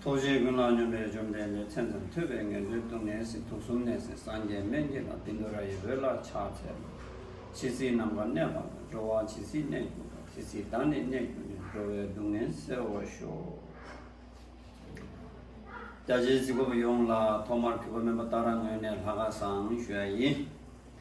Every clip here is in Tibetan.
ཐུགས་རྗེའི་ཀུན་སློང་སྙོམས་པས་བཅོམ་ལྡན་འདས་མཚན་ཙམ་ཐོས་པས་ངན་འགྲོའི་སྡུག་བསྔལ་སྲིད་དུག་གསུམ་ནད་སེལ་སངས་རྒྱས་སྨན་དགྱེས་ལ་བིན་དུ་ར་ཡི་འོད་ལ་ཕྱག་འཚལ་ལོ། ཕྱི་སྲིད་ནམ་མཁའ་གནས་པ་ན་འགྲོ་བ་ཇི་སྲིད་གནས་གྱུར་པ་དེ་སྲིད་བདག་ནི་གནས་གྱུར་ནས་འགྲོ་བའི་སྡུག་བསྔལ་སེལ་བར་ཤོག། རྒྱ་ཆེའི་རྩིས་འགོ་བ་ཡོངས་ལ་ཐོག་མར་དུས་འཁོར་སྨོན་པ་བཏགས་རང་ངོས་ནས་ལྷ་ཁ་བསང་ཞུ་བ་ཡིན།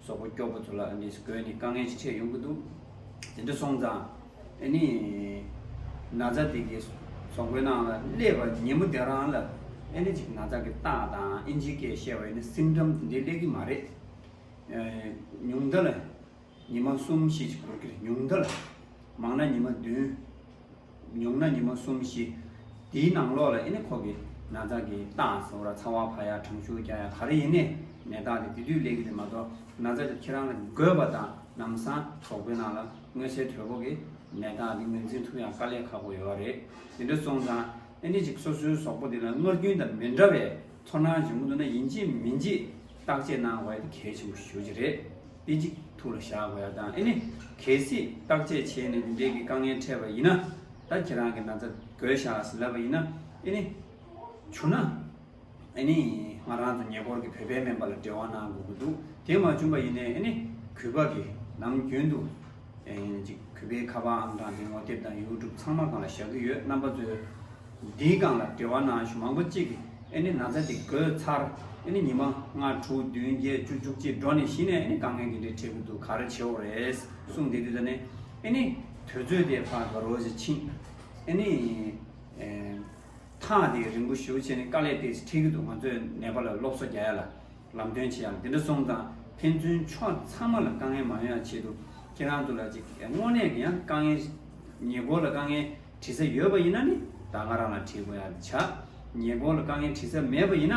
སོག་པོ་སྐྱོག་པོ་ཚོ་ལ་ཨ་ནེས་གོས་ནི་དཀའ་ངལ་ཅིག་ཆེ་ཡོང་གི་འདུག་དེ་འདྲ་སོང་ཙང་ཨེ་ནི། ན་བཟའ་དེ་གི་སོག་པོའི་ནང་ལ་སླེབས་པ་ཉིན་མོ་དེ་རང་ལ་ཨེ་ནི་ཅིག་ན་བཟའ་གི་རྟགས་དང་ཨིན་ཇིའི་སྐད་བཤད་པ་ཨེ་ནི་སིམ་འགྲམ་དེ་འདྲའི་སླེབས་ཀྱི་མ་རེད། ཉུང་མཐའ་ལ་ཉི་མ་གསུམ་བཞི་ཅིག་འགོར་གྱི་རེད་ཉུང་མཐའ་ལ། མང་ན་ཉི་མ་བདུན། ཉོག་ན་ཉི་མོ་གསུམ་བཞི། དེའི་ནང་ལོགས་ལ་ཨེ་ནི་ཁོག་གི་ན་བཟའ་གི་རྟགས་ཟེར་བ་ར་ཚ་བ་བྷ་ཡ་བྲང་ཤུར་རྒྱ་ཡ་ག་རེ་ཡིན་ནས་མེ་སྟག་དེ་དེ་དུས་ལས་གི་རེད་མ་གཏོགས་ན་བཟའ་དེ་ཁྱེད་རང་ལ་དགོས་པ་དང་ནམ་སང་གྲོགས་པོའི་ནང་ལ་དངོས་གསལ་དོད་པོ་གི་མེ་སྟག་དེ་ངོས་འཛིན་ཐུབ་ཡང་དཀའ་ལས་ཁག་པོ་ཡོད་བ་རེད་དེ་འདྲ་སོང་ཙང་ཨེ་ནི་ཅིག་སོ་སོའི་ཟོག་པོ་དེ་ལ་ངར་རྒྱུན་དང་མི་འདྲ་བའི་ཚོར་སྣང་འབྱུང་གི་འདུག་ན་ཡིན་གཅིག་མིན་གཅིག་བརྟག་དཔྱད་གནང་བ་དེ་གལ་ཆེན་པོ་ཞུ་རྒྱུ་རེད། དཔེ་ཅིག་ཐུགས་ལ་བཞག་དགོས་ཡག་དང་ཨེ་ནི། གལ་སྲིད་བརྟག་དཔྱད་བྱས་ནས་འདི་འདྲའི་གི་དཀའ་ངལ་འཕྲད་པ་ཡིན་ན། ད་ཁྱེད་རང་གི་ན་ཚ་གོས་བཞག་ཟིན་ལབ་པ་ཡིན་ན་ཨེ་ནི། བྱུང་ན་ཨེ་ནི། ང་རང་དང་ཉེ་འཁོར་གི་བོད་པའི་སྨན་པ་ལ་འབྲེལ་བ་གནང་དགོས་ཀྱི་འདུག་དེ་མ་བྱུང་པ་ཡིན་ནའི་ཨེ་ནི། གུས་པ་གི་ནམ་རྒྱུན་དུ། གཅིག་གུས་པས་ཁ་པར་ཨང་གྲངས་དེ་ངོ་དེབ་དང་ཡུའུ་ཀྲུབ་ཚང་མ་གང་ལ་བཞག་གི་ཡོད་རྣམ་པ་ཚོས་འདིའི་སྒང་ལ་འབྲེལ་བ་ནང་གཞུང་མང་པོ་གཅིག་ཨེ་ནི་ན་ཚ་དེ་དགོས་ཚར་ཨེ་ནི་ཉི་མ་ལྔ་དྲུག་བདུན་བརྒྱད་བཅུ་བཅུ་གཅིག་འགྲོ་ནས་གཞི་ནས་ཨེ་ནི་དཀའ་ངལ་འདི་འདྲའི་འཕྲད་གི་འདུག་ག་རེ་བྱེད་འོ་རེད་གསུངས་དེ་དུས་ད་ནས་ཨེ་ནི་དུས་ཚོད་དེ་ཕ་ག་རོ་ཞིག་ཕྱིན་ཨེ་ནི་ཐག་དེ་རིང་པོ་ཞུ་བྱས་ནས་དཀའ་ལས་དེ་ཕྲད་གི་འདུག་ང་ཚོས་ནེ་པ་ལ་སློབ་གསོ་རྒྱ་ཡ་ལ། ལམ་སྟོན་བྱེད་ཡག་འདི་འདྲ་སོང་ཙང་ཕན་ཚུན་ཕྱོགས་ཚང་མ་ལ་དཀའ་ངལ་མང་ཡང་ཆེད་དུ་ཁྱེད་རང་ཚོ་ལ་ཅིག་དངོས་གནས་ཀྱི་ཡང་དཀའ་ངལ་ཉེ་འཁོར་ལ་དཀའ་ངལ་དྲི་ས་ཡོད་པ་ཡིན་ན་ནི་ད་ང་རང་ལ་དྲི་དགོས་ཡག་དེ་བྱ། ཉེ་འཁོར་ལ་དཀའ་ངལ་དྲི་ས་མེད་པ་ཡིན་ན་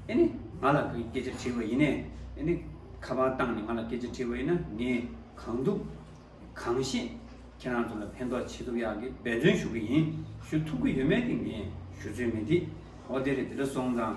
ཨེ་ནི་ང་ལ་སྐད་ཆ་དྲི་བ་ཡིན་ནས་ཨེ་ནི་ཁ་པར་བཏང་ནས་ང་ལ་སྐད་ཆ་དྲི་བ་ཡིན་ན་ངས་གང་ཐུབ་གང་ཤེས་ཁྱེད་རང་ཚོ་ལ་ཕན་ཐོགས་བྱེད་ཐུབ་ཡག་གི་འབད་བརྩོན་ཞུ་གི་ཡིན་ཞུ་ཐུབ་ཀྱི་ཡོད་མེད་དེ་ངས་ཞུ་ཚོད་མེད་དེ་འོ་དེ་རེད་འདི་འདྲ་སོང་ཙང།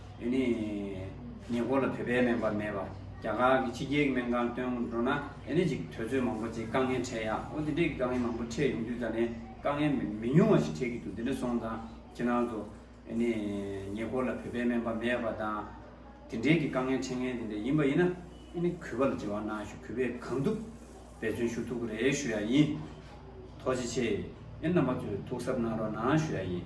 འདི་ནི་ཉེ་འཁོར་ལ་བོད་པའི་སྨན་པ་མེད་པ། རྒྱ་གར་གྱི་ཕྱི་རྒྱལ་གྱི་སྨན་ཁང་སྟོན་འགྲོ་ན་དེ་ནས་ཅིག་དོལ་ཚོད་མང་པོ་ཅིག་དཀའ་ངལ་འཕྲད་ཡ། ཨོ་དེ་འདྲས་ཀྱི་དཀའ་ངལ་མང་པོ་འཕྲད་ཡོང་དུས་ད་ནས་དཀའ་ངལ་མི་ཉུང་བ་ཞིག་འཕྲད་ཀྱི་འདུག་དེ་འདྲ་སོང་ཙང་ཕྱི་ནང་དུ། འདི་ནི་ཉེ་འཁོར་ལ་བོད་པའི་སྨན་པ་མེད་པ་དང། དེ་འདྲས་ཀྱི་དཀའ་ངལ་འཕྲད་ངེས་དེ་འདྲས་ཡིན་པ་ཡིན་ན། འདི་ནི་གུས་པ་ལ་འབྲེལ་བ་གནང་ཞུ་གུས་པས་གང་ཐུབ་འབད་བརྩོན་ཞུ་ཐུགས་རེ་ཞུ་ཡ་ཡིན། ཐོག་ཅི་ཆེ་ཨེ་རྣམ་པ་ཚོས་ཐུགས་གཟབ་གནང་རོགས་གནང་ཞུ་ཡ་ཡིན།